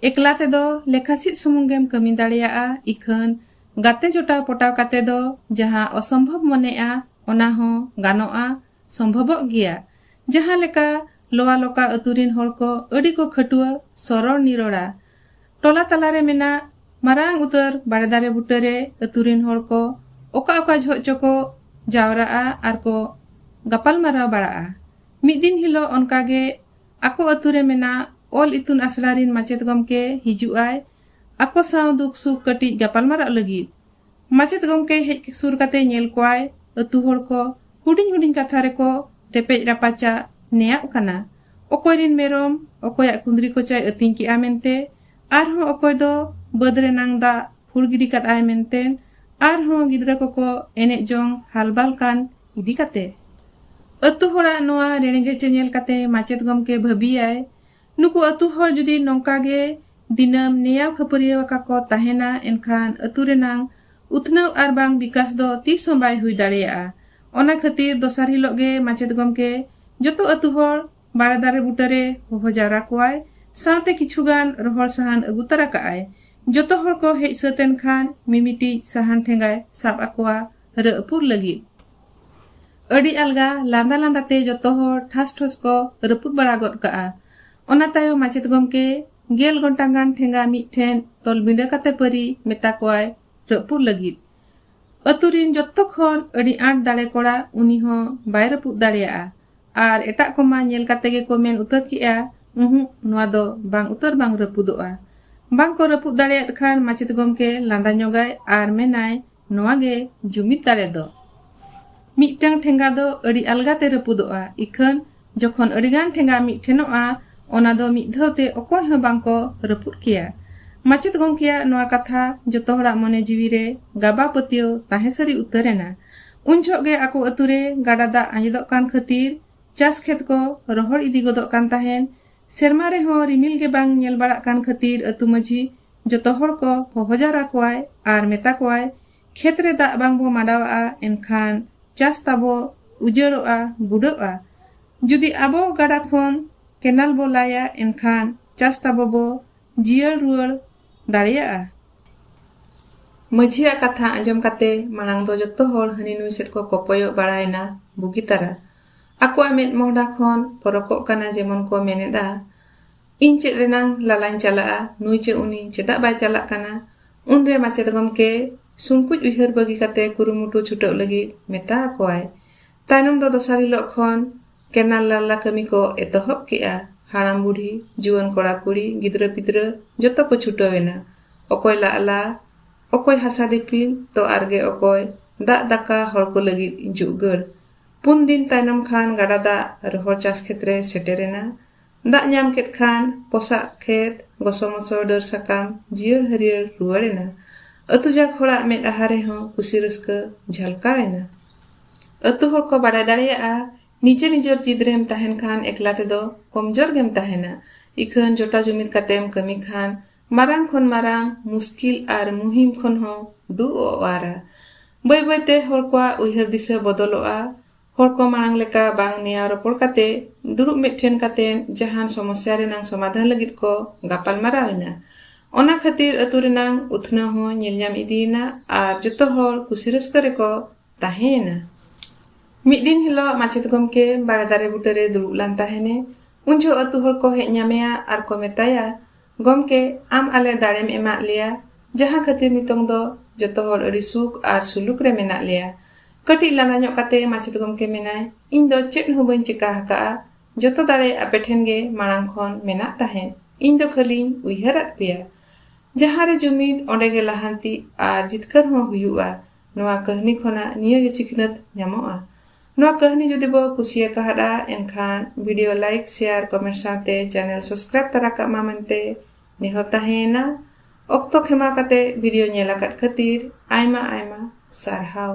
ᱮᱠᱞᱟ ᱛᱮᱫᱚ ᱞᱮᱠᱷᱟ ᱪᱮᱫ ᱥᱩᱢᱩᱝ ᱜᱮᱢ ᱠᱟᱹᱢᱤ ᱫᱟᱲᱮᱭᱟᱜᱼᱟ ᱤᱠᱷᱟᱹᱱ ᱜᱟᱛᱮ ᱡᱚᱴᱟᱣ ᱯᱚᱴᱟᱣ ᱠᱟᱛᱮ ᱫᱚ ᱡᱟᱦᱟᱸ ᱚᱥᱚᱢᱵᱷᱚᱵ ᱢᱚᱱᱮᱜᱼᱟ ᱚᱱᱟ ᱦᱚᱸ ᱜᱟᱱᱚᱜᱼᱟ ᱥᱚᱢᱵᱷᱚᱵᱚᱜ ᱜᱮᱭᱟ ᱡᱟᱦᱟᱸ ᱞᱮᱠᱟ ᱞᱚᱣᱟ ᱞᱚᱠᱟ ᱟᱹᱛᱩ ᱨᱤᱱ ᱦᱚᱲ ᱠᱚ ᱟᱹᱰᱤ ᱠᱚ ᱠᱷᱟᱹᱴᱩᱣᱟᱹ ᱥᱚᱨᱚᱲ ᱱᱤᱨᱚᱲᱟ ᱴᱚᱞᱟ ᱛᱟᱞᱟᱨᱮ ᱢᱮᱱᱟᱜ ᱢᱟᱨᱟᱝ ᱩᱛᱟᱹᱨ ᱵᱟᱲᱮ ᱫᱟᱨᱮ ᱵᱩᱴᱟᱹᱨᱮ ᱟᱹᱛᱩ ᱨᱤᱱ ᱦᱚᱲ ᱠᱚ ᱚᱠᱟ ᱚᱠᱟ ᱡᱷᱚᱜ ᱪᱚᱠᱚ ᱡᱟᱣᱨᱟᱜᱼᱟ ᱟᱨ ᱠᱚ ᱜᱟᱯᱟᱞ ᱢᱟᱨᱟᱣ ᱵᱟᱲᱟᱜᱼᱟ ᱢᱤᱫ ᱫᱤᱱ ᱦᱤᱞᱳᱜ ᱚᱱᱠᱟᱜᱮ ᱟᱠᱚ ᱟᱹᱛᱩ ᱨᱮ ᱢᱮᱱᱟᱜ ᱚᱞ ᱤᱛᱩᱱ ᱟᱥᱲᱟ ᱨᱤᱱ ᱢᱟᱪᱮᱛ ᱜᱚᱢᱠᱮ ᱦᱤᱡᱩᱜ ᱟᱭ ᱟᱠᱚ ᱥᱟᱶ ᱫᱩᱠ ᱥᱩᱠ ᱠᱟᱹᱴᱤᱡ ᱜᱟᱯᱟᱞᱢᱟᱨᱟᱜ ᱞᱟᱹᱜᱤᱫ᱾ ᱢᱟᱪᱮᱛ ᱜᱚᱢᱠᱮ ᱦᱮᱡ ᱥᱩᱨ ᱠᱟᱛᱮ ᱧᱮᱞ ᱠᱚᱣᱟᱭ ᱟᱹᱛᱩ ᱦᱚᱲ ᱠᱚ ᱦᱩᱰᱤᱧ ᱦᱩᱰᱤᱧ ᱠᱟᱛᱷᱟ ᱨᱮᱠᱚ ᱨᱮᱯᱮᱡ ᱨᱟᱯᱟᱪᱟᱜ ᱱᱮᱭᱟᱜ ᱠᱟᱱᱟ ᱚᱠᱚᱭ ᱨᱤᱱ ᱢᱮᱨᱚᱢ ᱚᱠᱚᱭᱟᱜ ᱠᱩᱸᱫᱽᱨᱤ ᱠᱚᱪᱟᱭ ᱟᱹᱛᱤᱧ ᱠᱮᱫ ᱟ ᱢᱮᱱᱛᱮ ᱟᱨ ᱦᱚᱸ ᱚᱠᱚᱭ ᱫᱚ ᱵᱟᱹᱫᱽ ᱨᱮ ᱱᱟᱝ ᱫᱟᱜ ᱯᱷᱩᱲ ᱜᱤᱰᱤ ᱠᱟᱫ ᱟᱭ ᱢᱮᱱᱛᱮ ᱟᱨ ᱦᱚᱸ ᱜᱤᱫᱽᱨᱟᱹ ᱠᱚᱠᱚ ᱮᱱᱮᱡ ᱡᱚᱝ ᱦᱟᱞᱵᱟᱞ ᱠᱟᱱ ᱤᱫᱤ ᱠᱟᱛᱮ ᱟᱹᱛᱩ ᱦᱚᱲᱟᱜ ᱱᱚᱣᱟ ᱨᱮᱬᱜᱮᱪ ᱧᱮᱞ ᱠᱟᱛᱮ ᱢᱟᱪᱮᱛ ᱜᱚᱢᱠᱮ ᱵᱷᱟᱹᱵᱤᱭᱟᱭ ᱱᱩᱠᱩ ᱟᱹᱛᱩ ᱦᱚᱲ ᱡᱩᱫᱤ ᱱᱚᱝᱠᱟ ᱜᱮ ᱫᱤᱱᱟᱹᱢ ᱱᱮᱭᱟᱣ ᱠᱷᱟᱹᱯᱟᱹᱨᱤᱭᱟᱹᱣ ᱟᱠᱟ ᱠᱚ ᱛᱟᱦᱮᱱᱟ ᱮᱱᱠᱷᱟᱱ ᱟᱹᱛᱩ ᱨᱮᱱᱟᱝ ᱩᱛᱱᱟᱹᱣ ᱟᱨ ᱵᱟᱝ ᱵᱤᱠᱟᱥ ᱫᱚ ᱛᱤᱥ ᱦᱚᱸ ᱵᱟᱭ ᱦᱩᱭ ᱫᱟᱲᱮᱭᱟᱜᱼᱟ ᱚᱱᱟ ᱠᱷᱟᱹᱛᱤᱨ ᱫᱚᱥᱟᱨ ᱦᱤᱞᱚᱜ ᱜᱮ ᱢᱟᱪᱮᱛ ᱜᱚᱢᱠᱮ ᱡᱚᱛᱚ ᱟᱹᱛᱩ ᱦᱚᱲ ᱵᱟᱲᱮ ᱫᱟᱨᱮ ᱵᱩᱴᱟᱹ ᱨᱮ ᱦᱚᱦᱚ ᱡᱟᱣᱨᱟ ᱠᱚᱣᱟᱭ ᱥᱟᱶᱛᱮ ᱠᱤᱪᱷᱩ ᱜᱟᱱ ᱨᱚᱦᱚᱲ ᱥᱟᱦᱟᱱ ᱟᱹᱜᱩ ᱛᱟᱨᱟ ᱠᱟᱜᱼᱟᱭ ᱡᱚᱛᱚ ᱦᱚᱲ ᱠᱚ ᱦᱮᱡ ᱥᱟᱹᱛ ᱮᱱ ᱠᱷᱟᱱ ᱢᱤᱢᱤᱴᱤᱡ ᱥᱟᱦᱟᱱ ᱴᱷᱮᱸᱜᱟᱭ ᱥᱟᱵ ᱟᱠᱚᱣᱟ ᱨᱟᱹᱯᱩᱫ ᱞᱟᱹᱜᱤᱫ ᱟᱹᱰᱤ ᱟᱞᱜᱟ ᱞᱟᱸᱫᱟ ᱞᱟᱸᱫᱟ ᱛᱮ ᱡᱚᱛᱚ ᱦᱚᱲ ᱴᱷᱟᱥ ᱴᱷᱚᱥ ᱠᱚ ᱨᱟᱹᱯᱩᱫ ᱵᱟᱲᱟ ᱜᱚᱫ ᱠᱟᱜᱼᱟ ᱚᱱᱟ ᱛᱟᱭᱚᱢ ᱢᱟᱪᱮᱛ ᱜᱚᱢᱠᱮ ᱜᱮᱞ ᱜᱷᱚᱱᱴᱟ ᱜᱟᱱ ᱴᱷᱮᱸᱜᱟ ᱢᱤᱫ ᱴᱷᱮᱱ ᱛᱚᱞ ᱵᱤᱸᱰᱟᱹ ᱠᱟᱛᱮ ᱯᱟᱹᱨᱤ ᱢᱮᱛᱟ ᱠᱚᱣᱟᱭ ᱨᱟᱹᱯᱩᱫ ᱞᱟᱹᱜᱤᱫ ᱟᱹᱛᱩ ᱨᱤᱱ ᱡᱚᱛᱚ ᱠᱷᱚᱱ ᱟᱹᱰᱤ ᱟᱸᱴ ᱫᱟᱲᱮ ᱠᱚᱲᱟ ᱩᱱᱤ ᱦᱚᱸ ᱵᱟᱭ ᱨᱟᱹᱯᱩᱫ ᱫᱟᱲᱮᱭᱟᱜᱼᱟ ᱟᱨ ᱮᱴᱟᱜ ᱠᱚᱢᱟ ᱧᱮᱞ ᱠᱟᱛᱮ ᱜᱮᱠᱚ ᱢᱮᱱ ᱩᱛᱟᱹᱨ ᱠᱮᱜᱼᱟ ᱩᱦᱩ ᱱᱚᱣᱟ ᱫᱚ ᱵᱟᱝ ᱩᱛᱟᱹᱨ ᱵᱟᱝ ᱨᱟᱹᱯᱩᱫᱚᱜᱼᱟ ᱵᱟᱝ ᱠᱚ ᱨᱟᱹᱯᱩᱫ ᱫᱟᱲᱮᱭᱟᱫ ᱠᱷᱟᱱ ᱢᱟᱪᱮᱛ ᱜᱚᱢᱠᱮ ᱞᱟᱸᱫᱟ ᱧᱚᱜᱟᱭ ᱟᱨ ᱢᱮᱱᱟᱭ ᱱᱚᱣᱟ ᱜᱮ ᱡᱩᱢᱤᱫ ᱫᱟᱲᱮ ᱫᱚ᱾ ᱢᱤᱫᱴᱟᱹᱝ ᱴᱷᱮᱸᱜᱟ ᱫᱚ ᱟᱹᱰᱤ ᱟᱞᱜᱟ ᱛᱮ ᱨᱟᱹᱯᱩᱫᱚᱜᱼᱟ, ᱤᱠᱷᱟᱹᱱ ᱡᱚᱠᱷᱚᱱ ᱟᱹᱰᱤ ᱜᱟᱱ ᱴᱷᱮᱸᱜᱟ ᱢᱤᱫ ᱴᱷᱮᱱᱚᱜᱼᱟ, ᱚᱱᱟ ᱫᱚ ᱢᱤᱫ ᱫᱷᱟᱹᱣ ᱛᱮ ᱚᱠᱚᱭ ᱦᱚᱸ ᱵᱟᱝ ᱠᱚ ᱨᱟᱹᱯᱩᱫ ᱠᱮᱭᱟ᱾ ᱢᱟᱪᱮᱛ ᱜᱚᱢᱠᱮᱭᱟᱜ ᱱᱚᱣᱟ ᱠᱟᱛᱷᱟ ᱡᱚᱛᱚ ᱦᱚᱲᱟᱜ ᱢᱚᱱᱮ ᱡᱤᱣᱤ ᱨᱮ ᱜᱟᱵᱟ ᱯᱟᱹᱛᱭᱟᱹᱣ ᱛᱟᱦᱮᱸ ᱥᱟᱹᱨᱤ ᱩᱛᱟᱹᱨ ᱮᱱᱟ᱾ ᱩᱱ ᱡᱷᱚᱜ ᱜᱮ ᱟᱠᱚ ᱟᱹᱛᱩ ᱨᱮ ᱜᱟᱰᱟ ᱫᱟᱜ ᱟᱸᱡᱮᱫᱚᱜ ᱠᱟᱱ ᱠᱷᱟᱹᱛᱤᱨ ᱪᱟᱥ ᱠᱷᱮᱛ ᱠᱚ ᱨᱚᱦᱚᱲ ᱤᱫᱤ ᱜᱚᱫᱚᱜ ᱠᱟᱱ ᱛᱟᱦᱮᱸᱱ᱾ ᱥᱮᱨᱢᱟ ᱨᱮᱦᱚᱸ ᱨᱤᱢᱤᱞ ᱜᱮ ᱵᱟᱝ ᱧᱮᱞ ᱵᱟᱲᱟᱜ ᱠᱟᱱ ᱠᱷᱟᱹᱛᱤᱨ ᱟᱹᱛᱩ ᱢᱟᱹᱡᱷᱤ ᱡᱚᱛᱚ ᱦᱚᱲ ᱠᱚ ᱦᱚᱦᱚ ᱡᱟᱣᱨᱟ ᱠᱚᱣᱟᱭ ᱟᱨ ᱢᱮᱛᱟ ᱠᱚᱣᱟᱭ ᱠᱷᱮᱛ ᱨᱮ ᱫᱟᱜ ᱵᱟᱝ ᱵᱚ ᱢᱟᱰᱟᱣᱟᱜᱼᱟ ᱮᱱᱠᱷᱟᱱ ᱪᱟᱥ ᱛᱟᱵᱚ ᱩᱡᱟᱹᱲᱚᱜᱼᱟ ᱵᱩᱰᱟᱹᱜᱼᱟ ᱡᱩᱫᱤ ᱟᱵᱚ ᱜᱟᱰᱟ ᱠᱷᱚᱱ ᱠᱮᱱᱟᱞ ᱵᱚ ᱞᱟᱭᱟ ᱮᱱᱠᱷᱟᱱ ᱪᱟᱥ ᱛᱟᱵᱚ ᱵᱚ ᱡᱤᱭᱟᱹᱲ ᱨᱩᱣᱟᱹᱲ ᱫᱟᱲᱮᱭᱟᱜᱼᱟ ᱢᱟᱹᱡᱷᱤᱭᱟᱜ ᱠᱟᱛᱷᱟ ᱟᱸᱡᱚᱢ ᱠᱟᱛᱮ ᱢᱟᱲᱟᱝ ᱫᱚ ᱡᱚᱛᱚ ᱦᱚᱲ ᱦᱟᱹᱱᱤ ᱱᱩᱭ ᱥᱮᱫ ᱠᱚ ᱠᱚᱯᱚᱭᱚᱜ ᱵᱟᱲᱟᱭᱮᱱᱟ ᱵᱩᱜᱤ ᱛᱟᱨᱟ ᱟᱠᱚᱣᱟᱜ ᱢᱮᱫ ᱢᱚᱦᱰᱟ ᱠᱷᱚᱱ ᱯᱚᱨᱚᱠᱚᱜ ᱠᱟᱱᱟ ᱡᱮᱢᱚᱱ ᱠᱚ ᱢᱮᱱᱮᱫᱼᱟ ᱤᱧ ᱪᱮᱫ ᱨᱮᱱᱟᱝ ᱞᱟᱞᱟᱧ ᱪᱟᱞᱟᱜᱼᱟ ᱱᱩᱭ ᱪᱮ ᱩᱱᱤ ᱪᱮᱫᱟᱜ ᱵᱟᱭ ᱪᱟᱞᱟᱜ ᱠᱟᱱᱟ ᱩᱱᱨᱮ ᱢᱟᱪᱮᱛ ᱜᱚᱢᱠᱮ ᱥᱩᱝᱠᱩᱡ ᱩᱭᱦᱟᱹᱨ ᱵᱟᱹᱜᱤ ᱠᱟᱛᱮ ᱠᱩᱨᱩᱢᱩᱴᱩ ᱪᱷᱩᱴᱟᱹᱜ ᱞᱟᱹᱜᱤᱫ ᱢᱮᱛᱟ ᱟᱠᱚᱣᱟᱭ ᱛᱟᱭᱱᱚᱢ ᱫᱚ ᱫᱚᱥᱟᱨ ᱦᱤᱞᱳᱜ ᱠᱷᱚᱱ ᱠᱮᱱᱟᱞ ᱞᱟᱞᱞᱟ ᱠᱟᱹᱢᱤ ᱠᱚ ᱮᱛᱚᱦᱚᱵ ᱠᱮᱜᱼᱟ ᱦᱟᱲᱟᱢ ᱵᱩᱰᱷᱤ ᱡᱩᱣᱟᱹᱱ ᱠᱚᱲᱟ ᱠᱩᱲᱤ ᱜᱤᱫᱽᱨᱟᱹ ᱯᱤᱫᱽᱨᱟᱹ ᱡᱚᱛᱚ ᱠᱚ ᱪᱷᱩᱴᱟᱹᱣ ᱮᱱᱟ ᱚᱠᱚᱭ ᱞᱟᱞᱞᱟ ᱚᱠᱚᱭ ᱦᱟᱥᱟ ᱫᱤᱯᱤᱞ ᱛᱚ ᱟᱨᱜᱮ ᱚᱠᱚᱭ ᱫᱟᱜ ᱫᱟᱠᱟ ᱦᱚᱲ ᱠᱚ ᱞᱟᱹᱜᱤᱫ ᱡᱩᱜᱟᱹᱲ ᱯᱩᱱ ᱫᱤᱱ ᱛᱟᱭᱱᱚᱢ ᱠᱷᱟᱱ ᱜᱟᱰᱟ ᱫᱟᱜ ᱨᱚᱦᱚᱲ ᱪᱟᱥ ᱠᱷᱮᱛ ᱨᱮ ᱥᱮᱴᱮᱨᱮᱱᱟ ᱫᱟᱜ ᱧᱟᱢ ᱠᱮᱫ ᱠᱷᱟᱱ ᱯᱚᱥᱟᱜ ᱠᱷᱮᱛ ᱜᱚᱥᱚ ᱢᱚᱥᱚ ᱰᱟᱹᱨ ᱥᱟᱠᱟᱢ ᱡᱤᱭᱟᱹᱲ ᱦᱟᱹᱨᱭᱟᱹᱲ ᱨᱩᱣᱟᱹᱲᱮᱱᱟ ᱟᱹᱛᱩ ᱡᱟᱠ ᱦᱚᱲᱟᱜ ᱢᱮᱫ ᱟᱦᱟ ᱨᱮᱦᱚᱸ ᱠᱩᱥᱤ ᱨᱟᱹᱥᱠᱟᱹ ᱡᱷᱟᱞᱠᱟᱣᱮᱱᱟ ᱟᱹᱛᱩ ᱦᱚᱲ ᱠᱚ ᱵᱟᱰᱟᱭ ᱫᱟᱲᱮᱭᱟᱜᱼᱟ ᱱᱤᱡᱮ ᱱᱤᱡᱚᱨ ᱡᱤᱫ ᱨᱮᱢ ᱛᱟᱦᱮᱱ ᱠᱷᱟᱱ ᱮᱠᱞᱟ ᱛᱮᱫᱚ ᱠᱚᱢᱡᱚᱨ ᱜᱮᱢ ᱛᱟᱦᱮᱱᱟ ᱤᱠᱷᱟᱹᱱ ᱡᱚᱴᱟ ᱡᱩᱢᱤᱫ ᱠᱟᱛᱮᱢ ᱠᱟᱹᱢᱤ ᱠᱷᱟᱱ ᱢᱟᱨᱟᱝ ᱠᱷᱚᱱ ᱢᱟᱨᱟᱝ ᱢᱩᱥᱠᱤᱞ ᱟᱨ ᱢᱩᱦᱤᱢ ᱠᱷᱚᱱ ᱦᱚᱸ ᱫᱩᱜᱼᱚᱣᱟᱨᱟ᱾ ᱵᱟᱹᱭ ᱵᱟᱹᱭ ᱛᱮ ᱦᱚᱲ ᱠᱚᱣᱟᱜ ᱩᱭᱦᱟᱹᱨ ᱫᱤᱥᱟᱹ ᱵᱚᱫᱚᱞᱚᱜᱼᱟ᱾ ᱦᱚᱲ ᱠᱚ ᱢᱟᱬᱟᱝ ᱞᱮᱠᱟ ᱵᱟᱝ ᱱᱮᱭᱟᱣ ᱨᱚᱯᱚᱲ ᱠᱟᱛᱮ ᱫᱩᱲᱩᱵ ᱢᱤᱫ ᱴᱷᱮᱱ ᱠᱟᱛᱮ ᱡᱟᱦᱟᱱ ᱥᱚᱢᱚᱥᱭᱟ ᱨᱮᱱᱟᱝ ᱥᱚᱢᱟᱫᱷᱟᱱ ᱞᱟᱹᱜᱤᱫ ᱠᱚ ᱜᱟᱯᱟᱞ ᱢᱟᱨᱟᱣ ᱮᱱᱟ᱾ ᱚᱱᱟ ᱠᱷᱟᱹᱛᱤᱨ ᱟᱹᱛᱩ ᱨᱮᱱᱟᱝ ᱩᱛᱱᱟᱹᱣ ᱦᱚᱸ ᱧᱮᱞ ᱧᱟᱢ ᱤᱫᱤ ᱮᱱᱟ ᱟᱨ ᱡᱚᱛᱚ ᱦᱚᱲ ᱠᱩᱥᱤ ᱨᱟᱹᱥᱠᱟᱹ ᱨᱮ ᱠᱚ ᱛᱟᱦᱮᱸ ᱮᱱᱟ᱾ ᱢᱤᱫ ᱫᱤᱱ ᱦᱤᱞᱚᱜ ᱢᱟᱪᱮᱛ ᱜᱚᱢᱠᱮ ᱵᱟᱲᱮ ᱫᱟᱨᱮ ᱵᱩᱴᱟᱹ ᱨᱮ ᱫᱩᱲᱩᱵ ᱞᱟᱱ ᱛᱟᱦᱮᱱᱮ᱾ ᱩᱱ ᱡᱷᱚᱜ ᱟᱹᱛᱩ ᱦᱚᱲ ᱠᱚ ᱦᱮᱡ ᱧᱟᱢᱮᱭᱟ ᱟᱨ ᱠᱚ ᱢᱮᱛᱟᱭᱟ, ᱜᱚᱢᱠᱮ ᱟᱢ ᱟᱞᱮ ᱫᱟᱲᱮᱢ ᱮᱢᱟᱫ ᱞᱮᱭᱟ ᱡᱟᱦᱟᱸ ᱠᱷᱟᱹᱛᱤᱨ ᱱᱤᱛᱚᱝ ᱫᱚ ᱡᱚᱛᱚ ᱦᱚᱲ ᱟᱹᱰᱤ ᱥᱩᱠ ᱟᱨ ᱥᱩᱞᱩᱠ ᱨᱮ ᱢᱮᱱᱟᱜ ᱞᱮᱭᱟ ᱠᱟᱹᱴᱤᱡ ᱞᱟᱸᱫᱟ ᱧᱚᱜ ᱠᱟᱛᱮ ᱢᱟᱪᱮᱛ ᱜᱚᱢᱠᱮ ᱢᱮᱱᱟᱭ ᱤᱧ ᱫᱚ ᱪᱮᱫ ᱦᱚᱸ ᱵᱟᱹᱧ ᱪᱮᱠᱟ ᱟᱠᱟᱫᱼᱟ ᱡᱚᱛᱚ ᱫᱟᱲᱮ ᱟᱯᱮ ᱴᱷᱮᱱ ᱜᱮ ᱢᱟᱲᱟᱝ ᱠᱷᱚᱱ ᱢᱮᱱᱟᱜ ᱛᱟᱦᱮᱸᱫ ᱤᱧ ᱫᱚ ᱠᱷᱟᱹᱞᱤᱧ ᱩᱭᱦᱟᱹᱨᱟᱫ ᱯᱮᱭᱟ ᱡᱟᱦᱟᱸ ᱨᱮ ᱡᱩᱢᱤᱫ ᱚᱸᱰᱮ ᱜᱮ ᱞᱟᱦᱟᱱᱛᱤ ᱟᱨ ᱡᱤᱛᱠᱟᱹᱨ ᱦᱚᱸ ᱦᱩᱭᱩᱜᱼᱟ ᱱᱚᱣᱟ ᱠᱟᱹᱦᱱᱤ ᱠᱷᱚᱱᱟᱜ ᱱᱤᱭᱟᱹ ᱜᱮ ᱥᱤᱠᱷᱱᱟᱹᱛ ᱧᱟᱢᱚᱜᱼᱟ ᱱᱚᱣᱟ ᱠᱟᱹᱦᱱᱤ ᱡᱩᱫᱤ ᱵᱚ ᱠᱩᱥᱤ ᱟᱠᱟᱫᱼᱟ ᱮᱱᱠᱷᱟᱱ ᱵᱷᱤᱰᱤᱭᱳ ᱞᱟᱭᱤᱠ ᱥᱮᱭᱟᱨ ᱠᱚᱢᱮᱱᱴ ᱥᱟᱶᱛᱮ ᱪᱮᱱᱮᱞ ᱥᱟᱵᱥᱠᱨᱟᱭᱤᱵ ᱛᱟᱨᱟ ᱠᱟᱜ ᱢᱟ ᱢᱮᱱᱛᱮ ᱱᱮᱦᱚᱨ ᱛᱟᱦᱮᱸᱭᱮᱱᱟ ᱚᱠᱛᱚ ᱠᱷᱮᱢᱟᱣ ᱠᱟᱛᱮ ᱵᱷᱤᱰᱤᱭᱳ ᱧᱮᱞ ᱟᱠᱟᱫ ᱠᱷᱟᱹᱛᱤᱨ ᱟᱭᱢᱟ ᱟᱭᱢᱟ ᱥᱟᱨᱦᱟᱣ